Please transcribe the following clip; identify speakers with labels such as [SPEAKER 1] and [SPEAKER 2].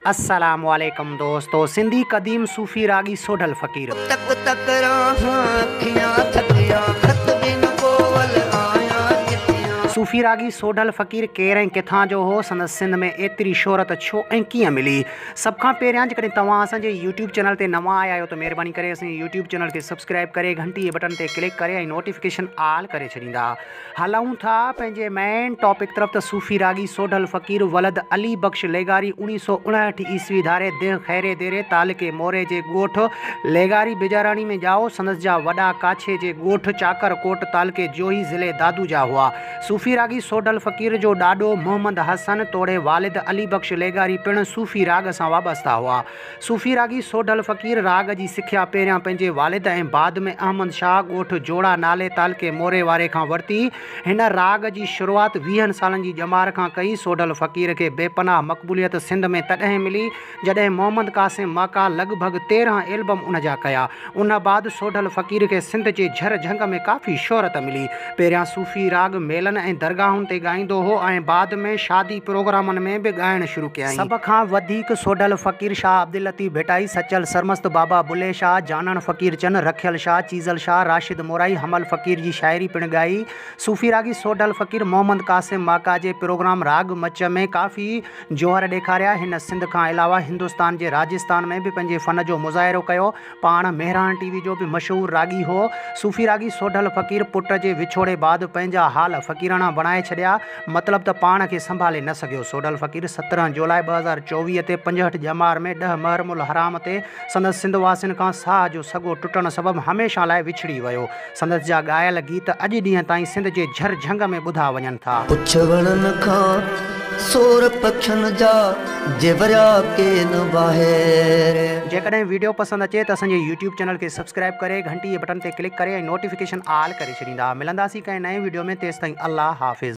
[SPEAKER 1] السلام عليڪم دوستو سنڌي قديم صوفي راڳي سوڍل فقير. تڪ تڪ راهان اکيان ٿڪيان خط بن ڪوول آيان
[SPEAKER 2] چٺيان. صوفي راڳي سوڍل
[SPEAKER 1] فقير ڪير ۽ ڪٿان جو هو؟ سندس سنڌ ۾ ايتري شهرت ڇو ۽ ڪيئن ملي؟ سڀ کان پهريان جيڪڏهن توهان اسان جي يوٽيوب چينل تي نوان آيا آهيو ته مهرباني ڪري اسان جي يوٽيوب چينل کي سبسڪرائيب ڪري گهنٽي جي بٽڻ تي ڪلڪ ڪري ۽ نوٽيفڪيشن آل ڪري ڇڏيندا هلون ٿا پنهنجي مين ٽاپڪ طرف ته صوفي راڳي سوڍل فقير ولد علي بخش ليغاري اڻيهه سؤ اڻهٺ عيسوي ڌاري ديهه خيري ديري تعلقي موري جي ڳوٺ ليغاري بيجاراڻي ۾ ڄائو سندس جا وڏا ڪاڇي جي ڳوٺ چاڪر ڪوٽ تعلقي جوهي ضلعي دادو جا هئا صوفي راڳي سوڍل فقير جو ڏاڏو محمد حسن توڙي والد علي بخش ليغاري پڻ صوفي راڳ سان وابسته هئا. صوفي راڳي سوڍل فقير راڳ جي سکيا پهريان پنهنجي والد ۽ بعد ۾ احمد شاهه ڳوٺ جوڙا نالي تعلقي موري واري کان ورتي. هن راڳ جي شروعات ويهن سالن جي ڄمار کان ڪئي. سوڍل فقير کي بي پناهه مقبوليت سنڌ ۾ تڏهن ملي جڏهن محمد قاسم ماڪا لڳ ڀڳ تيرهن ايلبم ان جا ڪيا. ان بعد سوڍل فقير کي سنڌ جي جھر جھنگ ۾ ڪافي شهرت ملي. پهريان صوفي راڳ ميلن ۽ درگاهن تي ڳائيندو هو ۽ بعد ۾ شادي پروگرامن ۾ به ڳائڻ شروع ڪيائين. سڀ کان وڌيڪ سوڍل فقير شاهه عبداللطيف ڀٽائي، سچل سرمست، بابا بلهي شاهه، جانڻ فقير چن، رکيل شاهه، چيزل شاهه، راشد مورائي، حمل فقير جي شاعري پڻ ڳائي. صوفي راڳي سوڍل فقير محمد قاسم ماڪا جي پروگرام راڳ مچ ۾ ڪافي جوهر ڏيکاريا. هن سنڌ کان علاوه هندستان جي راجستان ۾ به پنهنجي فن جو مظاهرو ڪيو. پاڻ مهراڻ ٽي وي جو به مشهور راڳي هو. صوفي راڳي سوڍل فقير پٽ جي وڇوڙي بعد پنهنجا حال فقيراڻا بڻائي ڇڏيا. مطلب ته پاڻ کي سنڀالي نه سگهيو. سوڍل فقير سترهن جولاء ٻه هزار چوويهه تي پنجهٺ ڄمار ۾ ڏهه محرم الحرام تي سندس سنڌ واسين کان ساهه جو سڳو ٽٽڻ سبب هميشه لاء وڇڙي ويو. سندس جا ڳايل گيت اڄ ڏينهن تائين سنڌ جي جھر جھنگ ۾ ٻڌا وڃن ٿا. پڇ وڻن کان
[SPEAKER 2] سور پکين جا جي وريا ڪين واهي ري. جيڪڏهن ويڊيو
[SPEAKER 1] پسند اچي ته اسان جي يوٽيوب چينل کي سبسڪرائب ڪري گھنٽي جي بٽن تي ڪلڪ ڪري ۽ نوٽيفڪيشن آل ڪري ڇڏيندا ملنداسين ڪنهن نئين ويڊيو ۾ تيستائين الله حافظ.